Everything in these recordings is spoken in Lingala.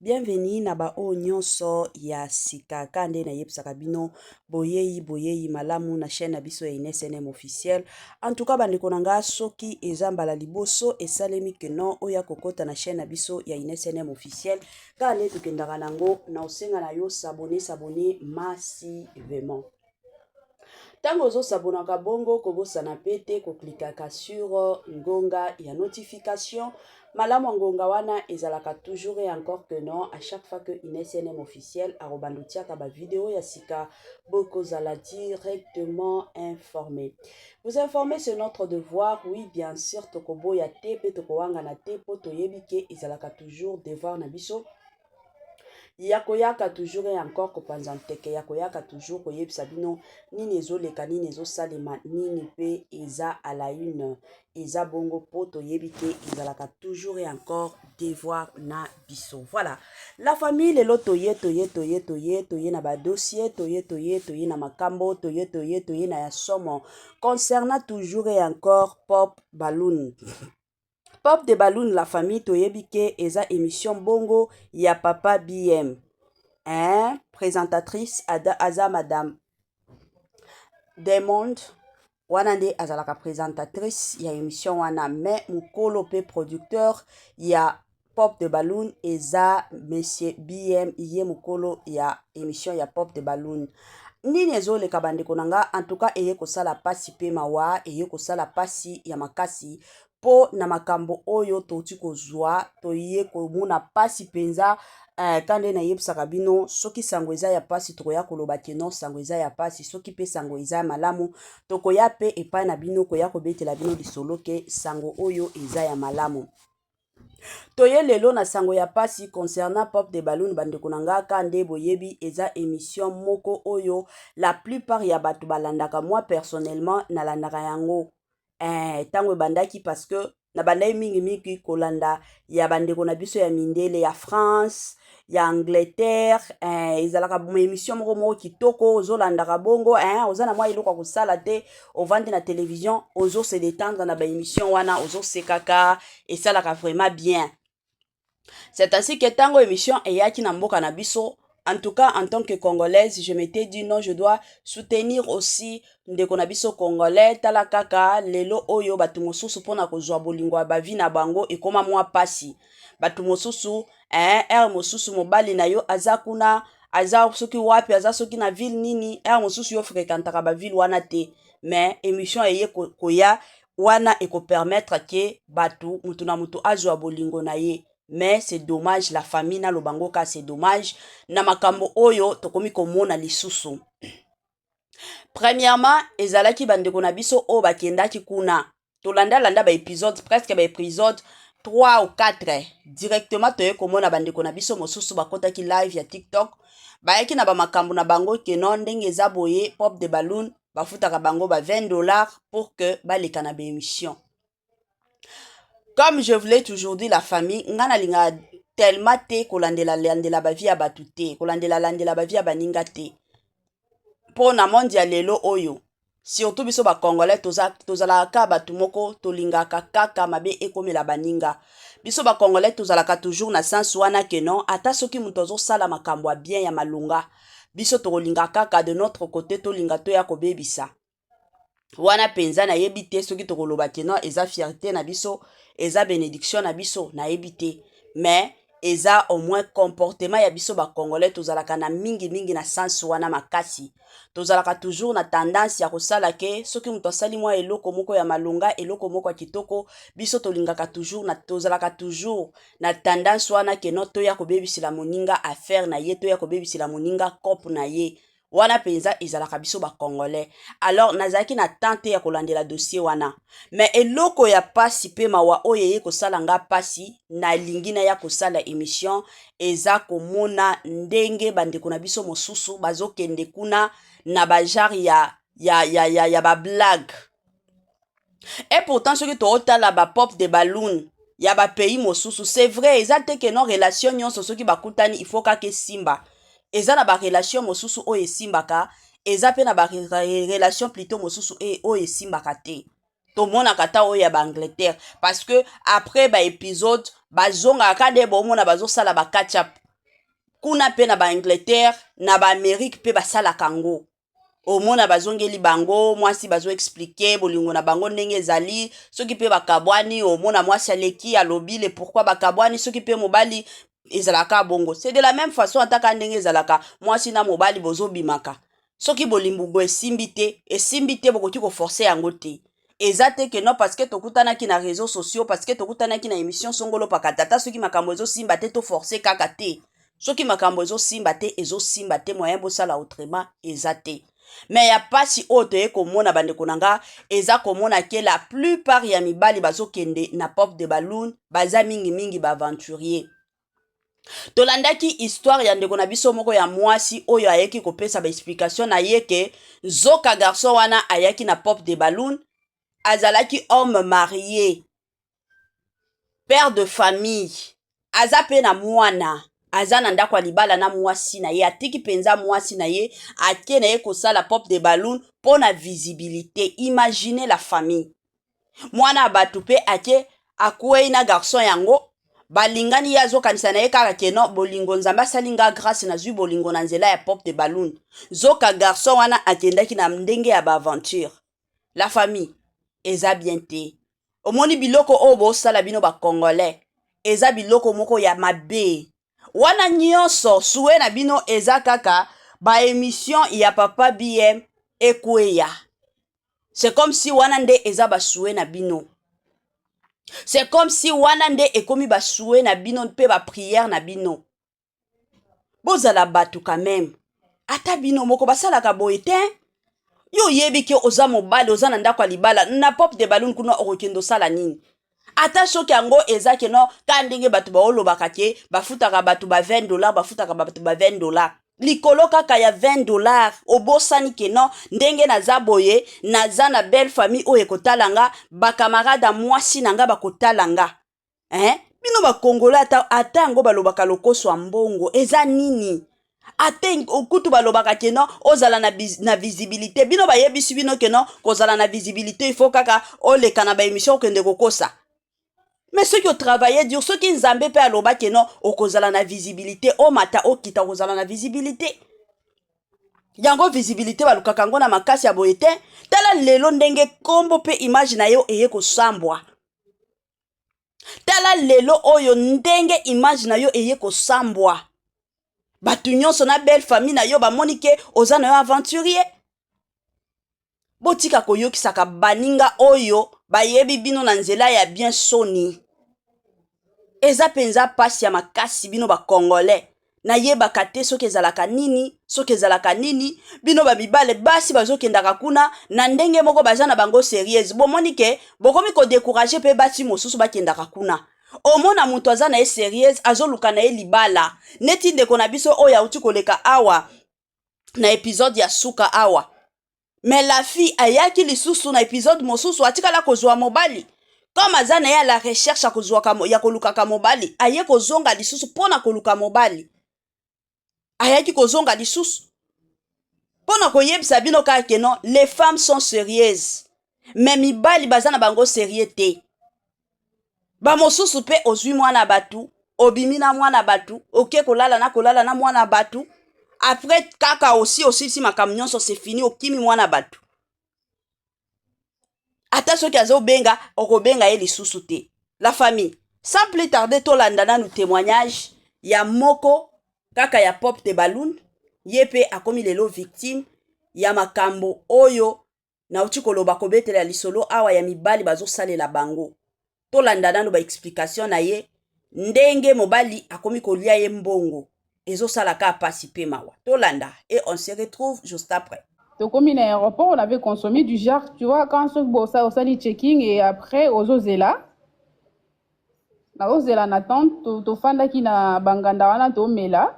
Bienvenue na ba oyo nyonso ya sika ka nde nayebisaka bino boyeyi boyeyi malamu na chaîne na biso ya INSNM officiel. En tout cas bandeko na nga soki eza mbala liboso esalemi que non oya kokota na chaîne na biso ya INSNM officiel ka nde tokendaka nango na osenga na yo s'abonner s'abonner massivement. Ntango ozosabonaka bongo, kobosana mpe te koklikaka sur ngonga ya notification. Malamu ngonga wana ezalaka toujours et encore que non, à chaque fois que une SNM officielle akobanda otiaka ba video ya sika, bokozala directement informé. Vous informer c'est notre devoir, oui bien sûr, tokoboya te mpe tokowangana te mpo toyebi ke ezalaka toujours devoir na biso ya koyaka toujours et encore kopanza nteke ya koyaka toujours koyebisa bino nini ezoleka nini ezosalema nini mpe eza à la une eza bongo mpo toyebi te ezalaka toujours et encore devoir na biso voilà la famille lelo toye toye toye toye toye na badossier toye toye toye na makambo toye toye toye na ya somo concernant toujours et encore pop balloon Pop de Balloon la famille toyebi ke eza emission bongo ya papa BM. Hein, présentatrice ada aza madame Diamond wana nde azalaka présentatrice ya emission wana mais mukolo pe producteur ya Pop de Balloon eza Monsieur BM ye mukolo ya emission ya Pop de Balloon. Nini ezoleka bandeko na nga en tout cas eye kosala pasi pe mawa eye kosala pasi ya makasi po na makambo oyo touti kozwa toye komona pasi penza eh, kande nayebisaka bino soki sango eza ya pasi tokoya koloba ke non sango eza ya pasi soki pe sango eza ya malamu tokoya pe epai na bino koya kobetela bino lisolo ke sango oyo eza ya malamu Toye lelo na sango ya pasi concernant Pop de Balloon bandeko na nga ka nde boyebi eza emission moko oyo la plupart ya bato balandaka moi personnellement nalandaka yango eh, tango ebandaki parce que nabandaki mingi mingi kolanda ya bandeko na biso ya mindele ya France ya angleterre eh, ezalaka émission moko moko kitoko ozolandaka bongo eh, oza na mwa eloko ya kosala te ovandi na télévision ozo se détendre na baémission wana ozosekaka esalaka vraiment bien c'est ainsi que ntango émission eyaki na mboka na biso en tout cas en tant que congolaise je m'étais dit non je dois soutenir aussi ndeko na biso congolais tala kaka lelo oyo bato mosusu mpo na kozwa bolingo ya bavi na bango ekoma mwa mpasi bato mosusu eh, heure mosusu mobali na yo aza kuna aza soki wapi aza soki na ville nini heure mosusu yo frekantaka baville wana te mais émission eye koya wana ekopermettre ke bato motu na motu azwa bolingo na ye mais c'est dommage la famille naloba ngo ka c'est dommage na makambo oyo tokomi komona lisusu Premièrement, ezalaki bandeko na biso oyo bakendaki kuna. Tolanda landa ba episodes, presque ba episodes 3 ou 4 directement toye komona bandeko na biso mosusu bakotaki live ya TikTok. Bayaki na bamakambo na bango que non ndenge eza boye pop de balloon bafutaka bango ba 20 dollars pour que baleka na ba emissions. comme je voulais toujours dit la famille nga na lingaka tellement te kolandela landela ba vie ya batu te kolandela landela ba vie ya baninga te po na monde ya lelo oyo surtout biso ba congolais toza tozalaka kaka batu moko tolingaka kaka mabe ekomela baninga biso ba congolais tozalaka toujours na sens wana que non ata soki moto azosala makambo ya bien ya malonga biso tokolinga kaka de notre cote tolinga toya kobebisa wana mpenza nayebi te soki tokoloba ke non eza fierté na biso eza benediction na biso nayebi te mais eza au moins comportement ya biso bacongolais tozalaka na mingi mingi na sens wana makasi tozalaka toujours na tendance ya kosala ke soki moto asali mwa eloko moko ya malonga eloko moko ya kitoko biso tolingaka toujours na tozalaka toujours na tendance wana ke non toya kobebisela moninga affaire na ye toya kobebisela moninga cope na ye wana mpenza ezalaka biso bacongolais alors nazalaki na temps te ya kolandela dossier wana me eloko ya mpasi mpe mawa oyo eye kosala nga mpasi nalingi naya kosala emission eza komona ndenge bandeko na biso mosusu bazokende kuna na bajare ya, ya, ya, ya, ya bablague Et pourtant soki totala ba pop de balloon ya ba pays mosusu c'est vrai eza te ke non relation nyonso soki bakutani il faut kaka esimba eza na ba relation mosusu oyo esimbaka eza mpe na ba relation plutot mosusu e oyo esimbaka te tomonaka ata oyo ya ba angleterre parce que après ba episode bazongaka ka nde bomona bazosala ba catch up kuna mpe na ba angleterre na ba amerique mpe basalaka yango omona bazongeli bango mwasi bazo explike bolingo na bango ndenge ezali soki mpe bakabwani omona mwasi aleki alobi le pourkui bakabwani soki mpe mobali ezalaka bongo se de la meme façon ataka ndenge ezalaka mwasi na mobali bozobimaka soki bolimbugo esimbi te esimbi te bokoki koforce yango te eza te que non parce que tokutanaki na reseaux sociaux parce que tokutanaki na emission songolo pakata ata soki makambo ezosimba te to forcer kaka te soki makambo ezosimba te ezosimba te moyen bosala autrement eza te me ya mpasi oyo toye komona bandeko na nga eza komona ke la plupart ya mibali bazokende na pop de balloon baza mingimingi baaventurier tolandaki histoire ya ndeko na biso moko ya mwasi oyo ayaki kopesa baexplication na ye ke nzoka garçon wana ayaki na pop de balloon azalaki homme marie père de famille aza mpe na mwana aza na ndako ya libala na mwasi na ye atiki mpenza mwasi na ye ake na ye kosala pop de balloon mpo na visibilité imagine la famille mwana ya bato mpe ake akwei na garçon yango balingani ye azokanisa na ye kaka ke non bolingo nzambe asali nga grâce nazwi bolingo na nzela ya pop de balloon zoka garçon wana akendaki na ndenge ya baaventure la famille eza bien te omoni biloko oyo bosala bino bacongolais eza biloko moko ya mabe wana nyonso sue na bino eza kaka baemission ya papa bm ekweya c'est comme si wana nde eza basue na bino c'est comme si wana nde ekomi basue na bino mpe bapriere na bino bozala bato quand même ata bino moko basalaka boye te yo oyebi ke oza mobali oza na ndako ya libala na pop de balune kuna okokende osala nini ata soki yango eza ke no ka ndenge bato baolobaka ke bafutaka bato ba 20 dollar bafutaka bato ba 20 dollar likolo kaka ya 20 dollar obosani ke no ndenge naza boye naza na belle famille oyo ekotala nga bakamarade ya mwasi na nga bakotala nga eh? bino bakongola ata ata yango balobaka lokoso ya mbongo eza nini ate okutu balobaka ke non ozala na, na visibilité bino bayebisi bino ke non kozala na visibilité il faut kaka oleka na baémission okende kokosa mais soki otravaille dur soki nzambe mpe aloba ke non okozala na visibilité omata okita okozala na visibilité yango visibilité balukaka yango na makasi ya boye te tala lelo ndenge nkombo mpe image na yo eye kosambwa tala lelo oyo ndenge image na yo eye kosambwa bato nyonso na belle famille na yo bamoni ke oza na yo aventurier botika koyokisaka baninga oyo bayebi bino na nzela ya bien soni eza mpenza mpasi ya makasi bino bacongolais nayebaka te soki ezalaka nini soki ezalaka nini bino bamibale basi bazokendaka kuna na ndenge moko baza na bango serieuse bomoni ke bokomi kodekourage mpe basi mosusu bakendaka kuna omona moto aza na ye serieuse azoluka na ye libala neti ndeko na biso oyo auti koleka awa na epizode ya suka awa mais la fille ayaki lisusu na episode mosusu atikala kozwa mobali comme aza na ye à la recherche ya kozwaka ya kolukaka mobali aye kozonga lisusu mpo na koluka mobali ayaki kozonga lisusu mpo na koyebisa bino kaka ke non les femmes sont serieuses mais mibali baza na bango serieux te bamosusu mpe ozwi mwana bato obimi na mwana bato oke kolala na kolala na mwana bato apres kaka osi osilisi makambo nyonso se fini okimi mwana bato ata soki azobenga okobenga ye lisusu te la famille sans plus tarde tolanda nanu témoignage ya moko kaka ya pop de balloon ye mpe akomi lelo victime ya makambo oyo nauti koloba kobetela lisolo awa ya mibali bazosalela bango tolanda nano baexplication na ye ndenge mobali akomi kolia ye mbongo ezosala ka pasi mpe mawa tolanda e on se retrouve juste après tokomi na aéroport on avait consommé du jar tu vois quand soki bosa osali checking et après ozozela nakozela na tente to, tofandaki na banganda wana tomela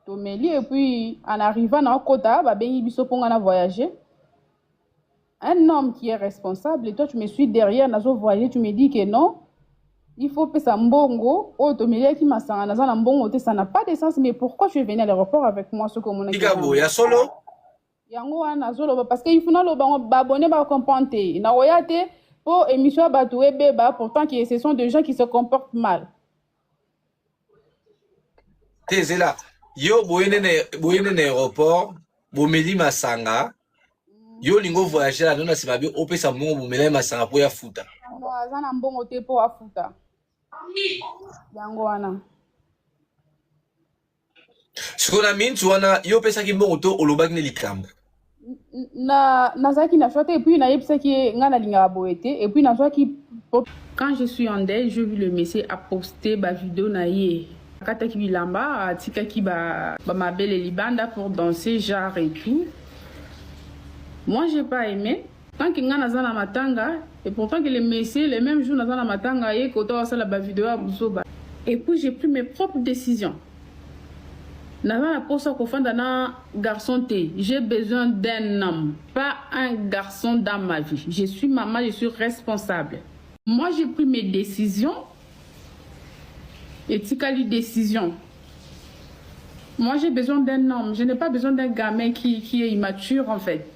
tomeli epuis en arrivant na okota babengi biso mpo ngai na voyage un homme qui est responsable et toi tu me suis derrière nazo voyage tu me dis que non il faut pesa mbongo oyo tomeliaki masanga naza na mbongo te ça n'a pas de sens mais pourquoi tu es venu à l'aéroport avec moi soki omonaki tika boye ya solo yango wana nazoloba parce que ifuna loba ngo babone ba comprendre te nakoya te mpo émission ya bato ebeba pourtant que ce sont des gens qui se comportent mal te zela yo boye nde na aéroport bomeli masanga yo olingi ovoyage lano na nsima be opesa mbongo bomela ye masanga mpo ya futa aza na mbongo te mpo afuta yango wana sikoyo na minti wana yo opesaki mbongo to olobaki nde likambo na nazalaki na choix te epuis nayebisaki ye ngai nalingaka boye te epuis nazwaki quand je suis en deuil je vu le monsieur aposte bavideo na ye akataki bilamba atikaki bamabele ba libanda pour danser genre et tout moi j'ai pas aimé tant que nga naza na matanga et pourtant que le monsieur le même jour naza na matanga ye kota wasala ba video ya buzoba et puis j'ai pris mes propres décisions naza na posa kofanda na garçon te j'ai besoin d'un homme pas un garçon dans ma vie je suis maman je suis responsable moi j'ai pris mes décisions etikali décision moi j'ai besoin d'un homme je n'ai pas besoin d'un gamin qui, qui est immature en fait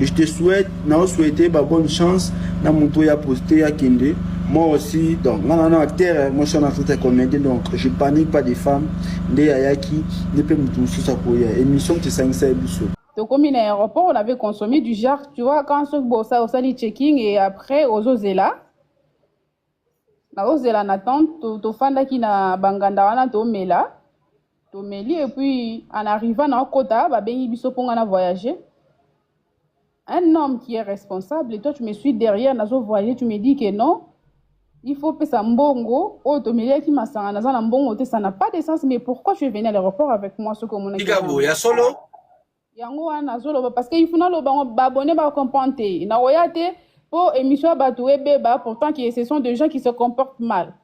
Je te souhaite, na souhaite ba bonne chance na moto ya poste ya kende. Moi aussi, donc, non, non, non, terre, moi je suis en Afrique de comédien, donc je panique pas des femmes. Nde ayaki, ne peut me toucher sa koya. Émission qui s'en sait biso. tokomi na aéroport on avait consommé du jar tu vois quand soki bosa osali checking et après ozozela nakozela na tente to, tofandaki na banganda wana tomela tomeli et puis en arrivant na okota babengi biso mpo ngai na voyager un homme qui est responsable et toi tu me suis derrière nazo voyager tu me dis que non il faut pesa mbongo oyo tomeliaki masanga naza na mbongo te ça n'a pas de sens mais pourquoi tu es venu à l'aéroport avec moi soki omonaki tika boya solo yango wana nazoloba parce que ifuna loba ngo babone ba comprendre te nakoya te mpo émission ya bato ebeba pourtant que ce sont des gens qui se comportent mal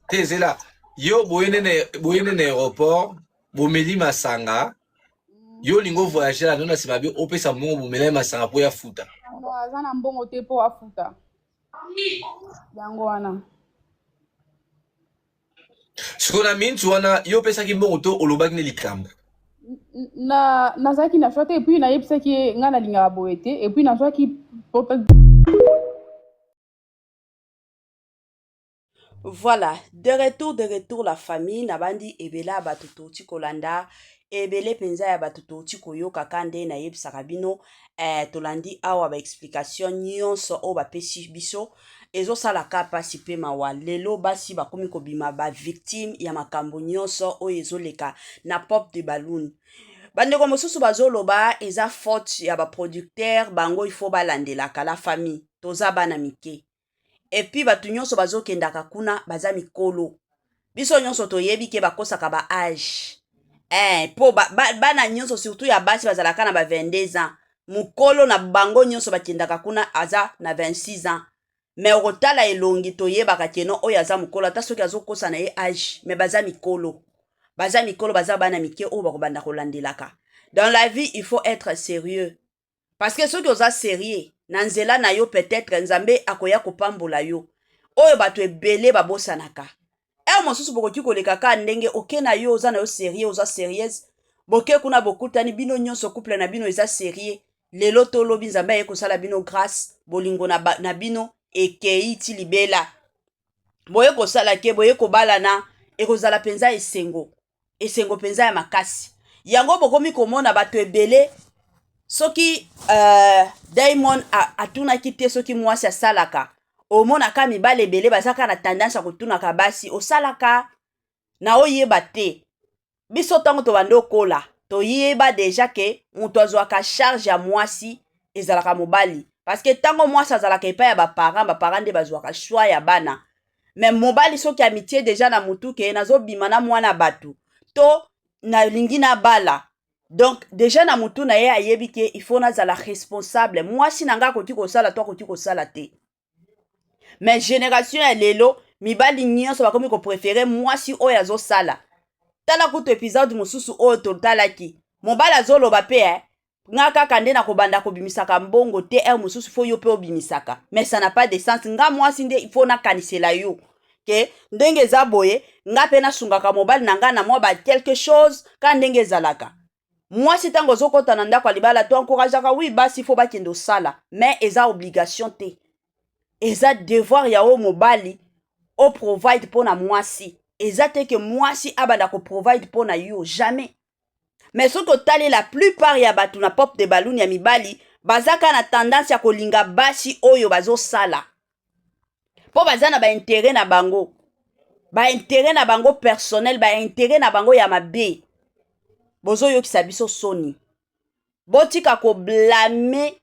te zela yo boye nene aéroport bomeli masanga yo olingi ovoyage na nona nsima be opesa mbongo bomela ye masanga mpo ya futa aza na mbongo te mpo afuta yango wana sikoyo na minti wana yo opesaki mbongo to olobaki nde likambo na nazalaki na choix te epuis nayebisaki ye ngai nalingaka boye te epuis nazwaki voilà de retour de retour la famille nabandi ebele ya bato touti kolanda ebele mpenza ya bato touti koyoka ka nde nayebisaka bino eh, tolandi awa ba explication nyonso oyo bapesi biso ezosalaka mpasi mpe mawa lelo basi bakomi kobima bavictime ya makambo nyonso oyo ezoleka na pop de balloon bandeko mosusu bazoloba eza faute ya baproducteur bango ifo balandelaka la famille toza bana mike epuis bato nyonso bazokendaka kuna baza mikolo biso nyonso toyebi ke bakosaka ba age eh, mpo ba, ba, bana nyonso surtout ya basi bazalaka na ba 22 ans mokolo na bango nyonso bakendaka kuna aza na 26 ans me okotala elongi toyebaka keno oyo aza mokolo ata soki azokosa na ye age me baza mikolo baza mikolo baza bana mike oyo bakobanda kolandelaka dans la vie il faut être sérieux parce que soki oza serieux na nzela na yo peut-être nzambe akoya kopambola yo oyo bato ebele babosanaka heure mosusu bokoki koleka kaka ndenge oke na yo oza na yo serieux oza serieuse boke kuna bokutani bino nyonso couple na bino eza serieux lelo to lobi nzambe aye kosala bino grâce bolingo na, ba, na bino ekei ti libela boye kosala ke boye kobalana ekozala mpenza esengo esengo mpenza ya makasi yango bokomi komona bato ebele soki uh, diamond atunaki te soki mwasi asalaka omonaka mibale ebele bazaka na tendance ya kotunaka basi osalaka na oyeba te biso ntango tobandi okola toyeba deja ke moto azwaka charge ya mwasi ezalaka mobali parceke ntango mwasi azalaka epai ya baparent baparent nde bazwaka shwa ya bana me mobali soki amitie deja na motu ke nazobima na mwana bato to nalingi nabala donc deja na motu na ye ayebi ke il faut nazala responsable mwasi na ngai akoki kosala to akoki kosala te me generation ya lelo mibali nyonso bakomi koprefere mwasi oyo azosala tala kutu episode mosusu oyo totalaki mobali azoloba mpe eh, nga kaka nde nakobanda kobimisaka mbongo te heure mosusu fo yo mpe obimisaka mais ça n'a pas de sens nga mwasi nde ifo nakanisela yo ke ndenge eza boye nga mpe nasungaka mobali na nga na mwa ba quelque chose ka ndenge ezalaka mwasi ntango ozokɔta na ndako ya libala to encourageaka wi basi fo bakende osala mais eza obligation te eza devoir ya oyo mobali oprovide mpo na mwasi eza te ke mwasi abanda koprovide mpo na yo jamais mais soki otali la plupart ya bato na pop de balloon ya mibali baza kaka na tendance ya kolinga basi oyo bazosala mpo baza na baintere na bango baintere na bango personnel baintere na bango ya mabe bozoyokisa biso soni botika koblame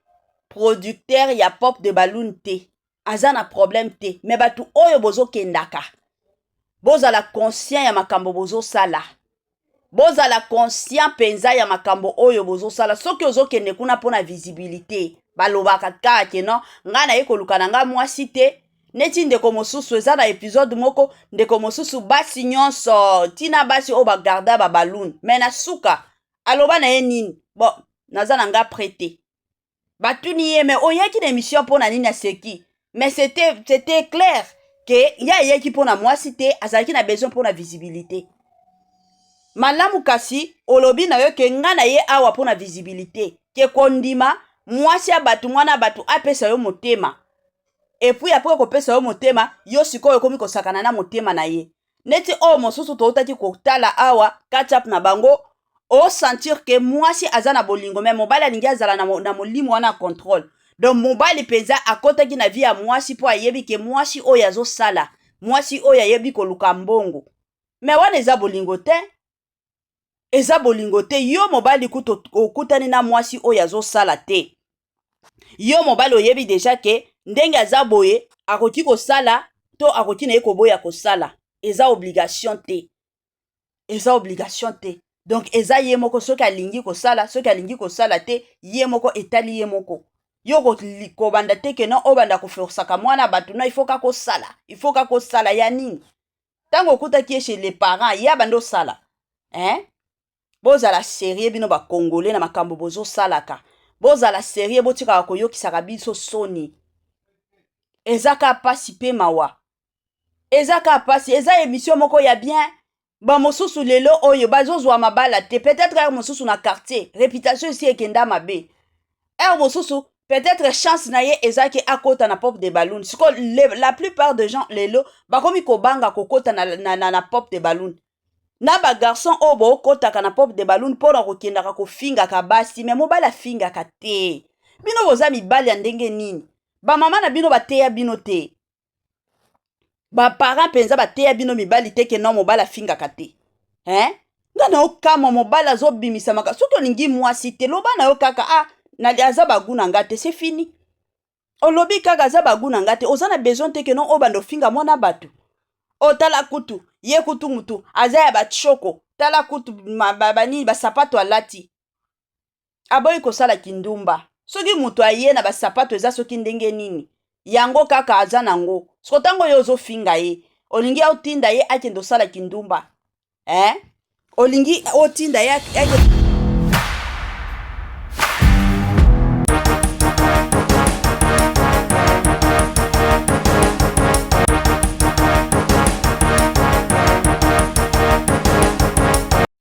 producteur ya pop de balloon te aza na problème te mais bato oyo bozokendaka bozala conscient ya makambo bozosala bozala conscient mpenza ya makambo oyo bozosala soki ozokende kuna mpo na visibilité balobaka kaka ke non ngai naye koluka na ngai mwasi te neti ndeko mosusu eza na episode moko ndeko mosusu basi nyonso ntina basi oyo bagarda babalune me na suka aloba na ye nini bon naza na ngai prete batuni ye me oyaki na emission mpo na nini aseki mais c'était c'était clair ke ye ayaki mpo na mwasi te azalaki na besoin mpo na visibilité malamu kasi olobi na yo ke nga na ye awa mpo na visibilité ke kondima mwasi ya bato mwana ya bato apesa yo motema epuis apres kopesa yo motema yo sikoyo okomi kosakana na motema na ye neti oyo mosusu toutaki kotala awa kachap na bango osentir ke mwasi aza na bolingo me mobali alingi azala na, na molimo wana ya contrôle donc mobali mpenza akotaki na vie ya mwasi mpo ayebi ke mwasi oyo azosala mwasi oyo ayebi koluka mbongo me wana eza bolingo te eza bolingo te yo mobali kutu okutani na mwasi oyo azosala te yo mobali oyebi deja ke ndenge aza boye akoki kosala to akoki na ye koboya kosala eza obligation te eza obligation te donc eza ye moko soki alingi kosala soki alingi kosala te ye moko etali ye moko yo kobanda te ke non obanda koforsaka mwana bato non ifoka kosala ifoka kosala ya nini ntango okutaki ye chez les parents ye abandi osala eh? bozala serie bino bakongole na makambo bozosalaka bozala serie botikaka koyokisaka biso soni eza ka mpasi mpe mawa eza ka mpasi eza emission moko ya bien bamosusu lelo oyo bazozwa mabala te peut-être yaka mosusu na quartier reputation esi ekenda mabe heure mosusu peut-être chance na ye eza ke akota na pop de balloon siko la plupart de gens lelo bakomi kobanga kokota na, na, na, na pop de balloon na bagarçon oyo bokotaka na pop de balloon mpo na kokendaka kofingaka basi me mobali afingaka te bino boza mibali ya ndenge nini bamama na bino bateya bino te baparent mpenza bateya bino mibali te ke no mobali afingaka te eh? nga na okamwa mobali azobimisama soki olingi mwasi te loba na yo kaka ah, aza bagu na nga te se fini olobi kaka aza bagu na nga te oza na besoin te ke no obanda ofinga mwana bato otala oh, kutu ye kutu mutu aza ya bachoko tala kutu banini basapato alati aboyi kosala kindumba soki moto aye na basapato eza soki ndenge nini yango kaka aza nango soko ntango yo ozofinga ye olingi otinda ye akende osala kindumba eh? olingi otinda ye akende